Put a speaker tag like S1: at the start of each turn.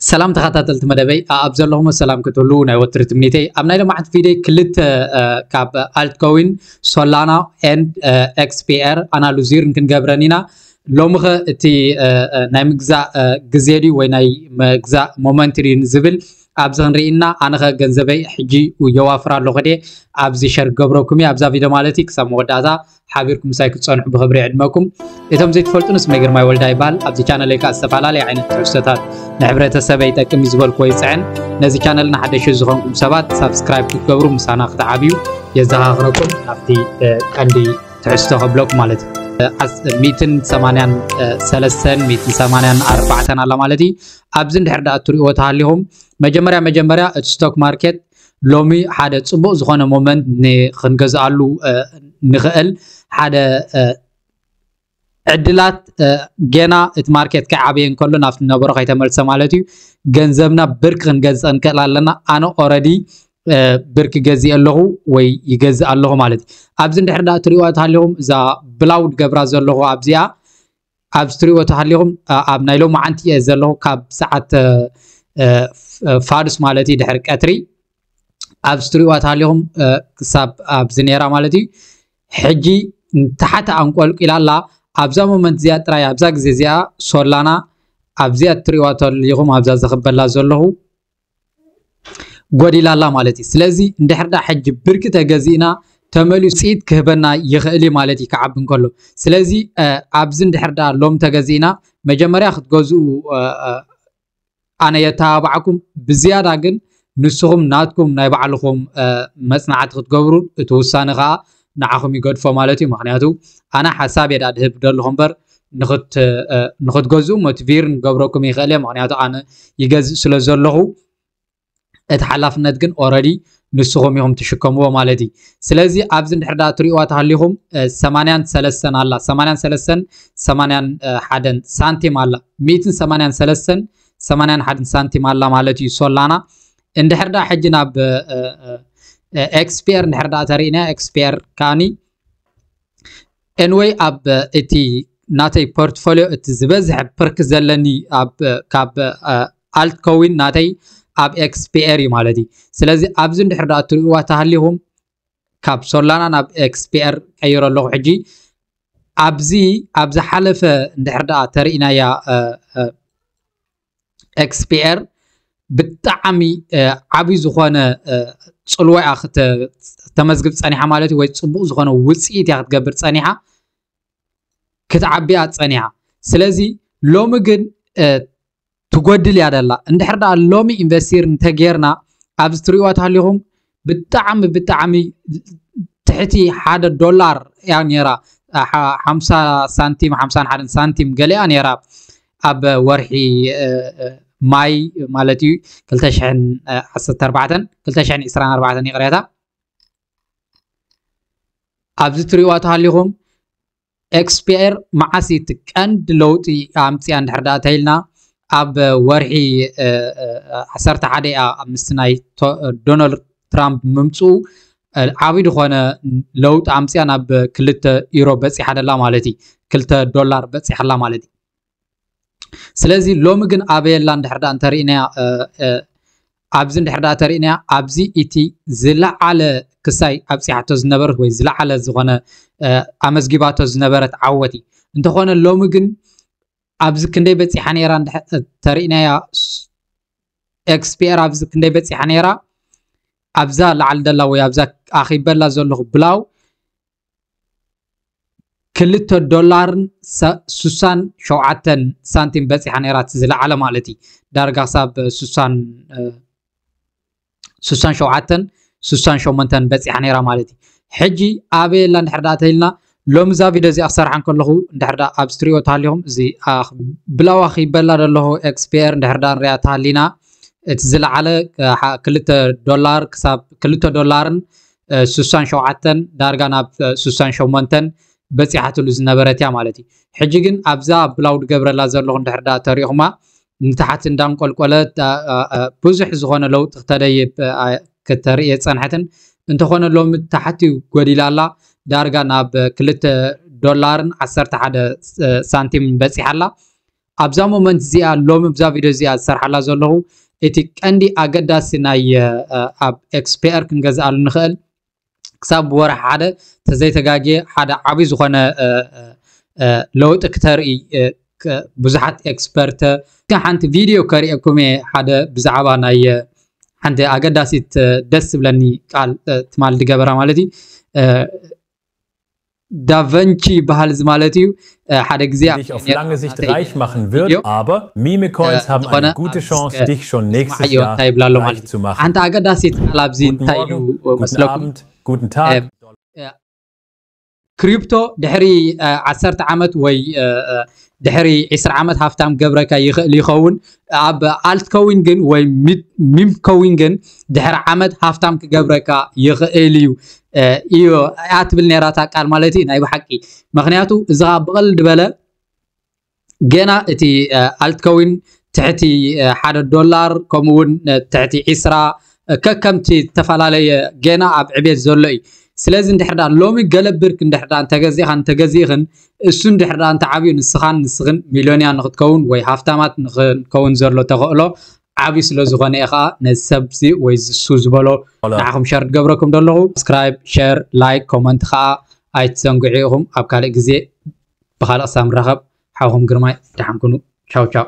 S1: ሰላም ተኸታተልቲ መደበይ ኣብ ዘለኹም ሰላም ክትህሉ ናይ ወትሪ ትምኒተይ ኣብ ናይ ልምዓት ቪድዮ ክልተ ካብ ኣልትኮዊን ሶላና ኤንድ ኤክስፒኤር ኣናሉዚር ክንገብረን ኢና ሎሚ ኸ እቲ ናይ ምግዛእ ግዜ ድዩ ወይ ናይ ምግዛእ ሞመንት ድዩ ዝብል ኣብዚ ክንርኢና ኣነ ኸ ገንዘበይ ሕጂ የዋፍር ኣለኹ ድየ ኣብዚ ሸር ገብረኩም እየ ኣብዛ ቪድዮ ማለት እዩ ክሳብ መወዳእታ ሓቢርኩም ምሳይ ክትፀንሑ ብክብሪ ዕድመኩም እቶም ዘይትፈልጡን ስመ ግርማይ ወልዳ ይበሃል ኣብዚ ቻነለይ ከዓ ዝተፈላለየ ዓይነት ትሕዝቶታት ንሕብረተሰበ ይጠቅም እዩ ዝበልክዎ ይፅዕን ነዚ ቻነል ንሓደሽ ዝኾንኩም ሰባት ሳብስክራይብ ክትገብሩ ምሳና ክትዓብዩ የዘኻኽረኩም ኣብቲ ቀንዲ ትሕዝቶ ከብለኩም ማለት እዩ ሚትን ሰማንያን ሰለስተን ሚትን ሰማንያን ኣርባዕተን ኣላ ማለት እዩ ኣብዚ እንድሕር ዳኣ እትሪእዎ ተሃሊኹም መጀመርያ መጀመርያ እቲ ስቶክ ማርኬት ሎሚ ሓደ ፅቡቅ ዝኮነ ሞመንት ክንገዝኣሉ ንክእል ሓደ ዕድላት ገና እቲ ማርኬት ከይዓበየ እንከሎ ናብቲ ነበሮ ከይተመልሰ ማለት እዩ ገንዘብና ብርክ ክንገዝፀ ንክእል ኣለና ኣነ ኦረዲ ብርክ ገዚእ ኣለኹ ወይ ይገዝእ ኣለኹ ማለት እዩ ኣብዚ እንድሕር ዳ እትሪእዋ ተሃሊኹም እዛ ብላውድ ገብራ ዘለኹ ኣብዚኣ ኣብዚ ትሪእዎ ተሃሊኹም ኣብ ናይ ሎማዓንቲ እየ ዘለኹ ካብ ሰዓት ፋዱስ ማለት እዩ ድሕሪ ቀትሪ ኣብዚ ትሪእዋ ተሃሊኹም ክሳብ ኣብዚ ነራ ማለት እዩ ሕጂ ንታሓቲ ኣንቆልቂላ ኣላ ኣብዛ ሞመንት እዚኣ ጥራይ ኣብዛ ግዜ እዚኣ ሶላና ኣብዚኣ እትሪእዋ ተሃሊኹም ኣብዛ ዘኽበላ ዘለኹ ጎዲላ ኣላ ማለት እዩ። ስለዚ እንድሕር ዳ ሕጂ ብርኪ ተገዚእና ተመሊሱ ውፅኢት ክህበና ይኽእል እዩ ማለት እዩ ክዓቢ እንከሎ። ስለዚ ኣብዚ እንድሕር ዳ ሎም ተገዚእና መጀመርያ ክትገዝኡ ኣነ የተባብዓኩም ብዝያዳ ግን ንስኹም ናትኩም ናይ ባዕልኹም መፅናዕቲ ክትገብሩን እቲ ውሳነ ከዓ ንዓኹም ይገድፎ ማለት እዩ ምክንያቱ ኣነ ሓሳብ የዳ ድህብ ደለኹ እምበር ንክትገዝኡ ሞቲቪርን ገብረኩም ይኽእል እየ ምክንያቱ ኣነ ይገዝእ ስለ ዘለኹ እቲ ሓላፍነት ግን ኦረዲ ንስኹም ኢኹም ትሽከምዎ ማለት እዩ ስለዚ ኣብዚ እንድሕር ዳ ትሪእዋ ተሃሊኹም ሰማንያን ሰለስተን ኣላ ሰማንያን ሰለስተን ሰማንያን ሓደን ሳንቲም ኣላ ሚእትን ሰማንያን ሰለስተን ሰማንያን ሓደን ሳንቲም ኣላ ማለት እዩ ሶላና እንድሕር ዳ ሕጂ ናብ ኤክስፔር እንድሕር ዳ ተሪእና ኤክስፔር ካኒ ኤንወይ ኣብ እቲ ናተይ ፖርትፎሊዮ እቲ ዝበዝሐ ፕርክ ዘለኒ ካብ ኣልት ከዊን ናተይ ኣብ ኤክስፒኤር እዩ ማለት እዩ ስለዚ ኣብዚ እንድሕር ዳ እትርእዋ ተሃሊኹም ካብ ሶላና ናብ ኤክስፒኤር ቀይሮ ኣለኹ ሕጂ ኣብዚ ኣብ ዝሓለፈ እንድሕር ዳ ተሪእናያ ኤክስፒኤር ብጣዕሚ ዓብይ ዝኾነ ፅልዋ እያ ክተመዝግብ ፀኒሓ ማለት እዩ ወይ ፅቡቅ ዝኾነ ውፅኢት እያ ክትገብር ፀኒሓ ክትዓቢ እያ ፀኒሓ ስለዚ ሎሚ ግን ትጎድል እያ ደላ እንድሕር ደኣ ሎሚ ኢንቨስቲር እንተጌርና ኣብዚ ትሪእዋ ተሃሊኹም ብጣዕሚ ብጣዕሚ ትሕቲ ሓደ ዶላር እያ ነይራ ሓምሳ ሳንቲም ሓምሳን ሓደን ሳንቲም ገሊኣ ነይራ ኣብ ወርሒ ማይ ማለት እዩ ክልተ ሽሕን ዓሰርተ ኣርባዕተን ክልተ ሽሕን ዕስራን ኣርባዕተን ይቕሬታ ኣብዚ ትሪእዋ ተሃሊኹም ኤክስፒየር መዓስ እቲ ቀንዲ ለውጢ ኣምፅያ እንድሕር ዳኣ ተይልና ኣብ ወርሒ ዓሰርተ ሓደ እያ ምስቲ ናይ ዶናልድ ትራምፕ ምምፅኡ ዓብይ ዝኾነ ለውጢ ኣምፅያ ናብ ክልተ ዩሮ በፂሓ ደላ ማለት እዩ ክልተ ዶላር በፂሓላ ማለት እዩ ስለዚ ሎሚ ግን ኣበየላ እንድሕር ዳኣ እንተሪእናያ ኣብዚ እንድሕር ዳኣ ተሪእናያ ኣብዚ እቲ ዝለዓለ ክሳይ ኣብፂሓቶ ዝነበረት ወይ ዝለዓለ ዝኾነ ኣመዝጊባቶ ዝነበረት ዓወት እዩ እንተኾነ ሎሚ ግን ኣብዚ ክንደይ በፂሓ ነይራ ተሪእናያ ኤክስፒኤር ኣብዚ ክንደይ በፂሓ ነይራ ኣብዛ ላዕሊ ደላ ወይ ኣብዛ ኣኺበላ ዘለኹ ብላው ክልተ ዶላርን ስሳን ሸውዓተን ሳንቲም በፂሓ ነይራ እቲ ዝለዓለ ማለት እዩ ዳርጋ ክሳብ ስሳን ስሳን ሸውዓተን ስሳን ሸሞንተን በፂሓ ነይራ ማለት እዩ ሕጂ ኣበይ ኣላ እንድሕር ዳኣ ተይልና ሎሚ እዛ ቪድዮ እዚኣ ክሰርሓ ከለኹ እንድሕር ዳኣ ኣብዚ ትሪኦ ተሃሊኹም እዚ ብላዋ ክይበላ ደለኹ ኤክስፒየር እንድሕር ዳኣ ንሪኣ ተሃሊና እቲ ዝለዓለ ክልተ ዶላር ክሳብ ክልተ ዶላርን ስሳን ሸውዓተን ዳርጋ ናብ ስሳን ሸሞንተን በፂሓትሉ ዝነበረት እያ ማለት እዩ ሕጂ ግን ኣብዛ ብላውድ ገብረላ ዘለኹ እንድሕር ዳ ተሪእኹማ ንታሓት እንዳንቆልቆለ ብዙሕ ዝኾነ ለውጢ ክተደይብ ክተርእየ ፀንሐትን እንተኾነ ሎሚ ታሓት እዩ ጎዲላ ኣላ ዳርጋ ናብ ክልተ ዶላርን ዓሰርተ ሓደ ሳንቲም በፂሓ ኣላ ኣብዛ ሞመንት እዚኣ ሎሚ ብዛ ቪድዮ እዚኣ ዝሰርሓላ ዘለኹ እቲ ቀንዲ ኣገዳሲ ናይ ኣብ ኤክስፔር ክንገዝኣሉ ንኽእል ክሳብ ብወርሒ ሓደ ተዘይተጋግየ ሓደ ዓብዪ ዝኾነ ለውጢ ክተርኢ ብዙሓት ኤክስፐርተ ሓንቲ ቪድዮ ከርእየኩም እየ ሓደ ብዛዕባ ናይ ሓንቲ ኣገዳሲት ደስ ዝብለኒ ቃል ትማል ድገበራ ማለት እዩ ዳቨንቺ ይበሃል እዚ ማለት እዩ ሓደ
S2: ግዜ ኣብ ሓንቲ ኣገዳሲት ቃል
S1: ኣብዚ እንታይ እዩ መስለኩም ክሪፕቶ ድሕሪ ዓሰርተ ዓመት ወይ ድሕሪ ዕስራ ዓመት ሃፍታም ገብረካ ይኽእል ይኸውን ኣብ ኣልት ከዊን ግን ወይ ሚም ከዊን ግን ድሕሪ ዓመት ሃፍታም ክገብረካ ይኽእል እዩ እዩ እያ ትብል ነራ እታ ቃል ማለት እዩ ናይ ብሓቂ ምክንያቱ እዚ ከዓ ብቐልድ በለ ገና እቲ ኣልትከዊን ትሕቲ ሓደ ዶላር ከምኡ እውን ትሕቲ ዒስራ ከከምቲ ዝተፈላለየ ገና ኣብ ዕቤት ዘሎ እዩ ስለዚ እንድሕር ዳ ሎሚ ገለ ብርክ እንድሕር ዳ እንተገዚእኻን እንተገዚእኽን እሱ እንድሕር ዳ እንተዓብዩ ንስኻን ንስኽን ሚልዮንያ ንክትከውን ወይ ሃፍታማት ንክንከውን ዘሎ ተኸእሎ ዓቢ ስለ ዝኮነ እየ ከኣ ነዚ ሰብ እዚ ወይ ዝሱ ዝበሎ ንዓኹም ሸር ድገብረኩም ደለኹ ሳብስክራይብ ሸር ላይክ ኮመንት ከኣ ኣይትዘንግዑ ኢኹም ኣብ ካልእ ግዜ ብካልእ ክሳብ ንራኸብ ሓውኹም ግርማይ ደሓን ኩኑ ቻው ቻው